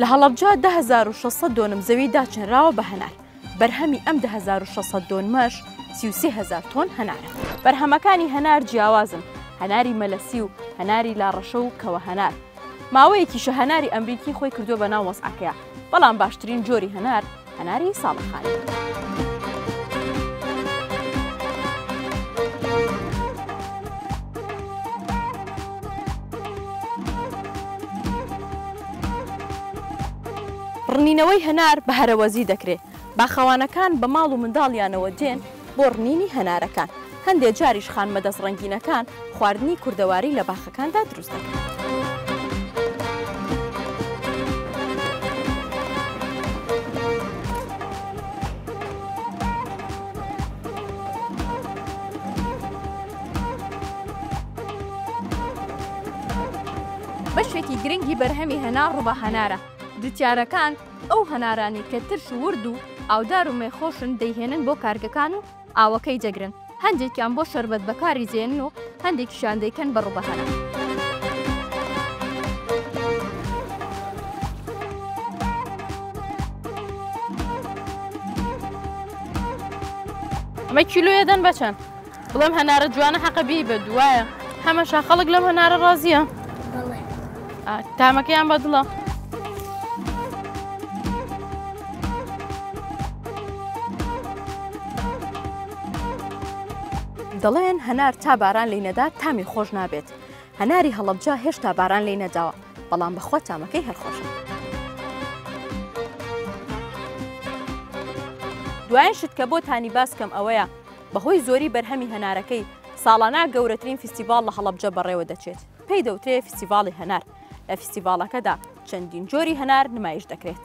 لە هەڵەبجە دە هەزار و شەش سەد دۆنم زەوی داچنراوە بە هەنار، بەرهەمی ئەم دە هەزار و شەش سەد دۆنمەش سی و سێ هەزار تۆن هەنارە. بەرهەمەکانی هەنار جیاوازن، هەناری مەلەسی و هەناری لاڕەشە و کەوەهەنار. ماوەیەکیشە هەناری ئەمریکی خۆی کردووە بە ناو وەزعەکەیا، بەڵام باشترین جۆری هەنار، هەناری ساڵەخانی. ڕنینەوەی هەنار بە هەرەوەزی دەکرێ، باخەوانەکان بە ماڵ و منداڵیانەوە دێن، بۆ ڕنینی هەنارەکان، هەندێ جاریش خانمە دەست ڕەنگینەکان خواردنی کوردەواری لە باخەکاندا دروست دەکەن. بەشێکی گرنگی بەرهەمی هەنار ڕوبە هەنارە جوتیارەکان، ئەو هەنارانەی کە ترش و ورد و ئاودار و مێخۆشن دەیهێنن بۆ کارگەکان و ئاوەکەی دەگرن، هەندێکیان بۆ شەربەت بەکاری دێنن و هەندێکیشیان دەیکەن بە ڕوبەهەرە. ئەمە کیلۆیە دەن بە چەند؟ بڵێم هەنارە جوانە حەقە بێی بە دوایە هەمەشا خەڵک لەم هەنارە ڕازیە تامەکەیان بەدڵە دەڵێن هەنار تا باران لی نەدا تامی خۆش نابێت هەناری هەڵبجا هێشتا باران لی نەداوە بەڵام بەخوا تامەکەی هەرخۆشە دوایان شت کە بۆ تانی باسکەم ئەوەیە بەهۆی زۆری بەرهەمی هەنارەکەی، ساڵانە گەورەترین فیستیڤاڵ لە هەڵەبجە بەڕێوە دەچێت، پێی دەوترێ فیستیڤاڵی هەنار، لە فیستیڤاڵەکەدا چەندین جۆری هەنار نمایش دەکرێت.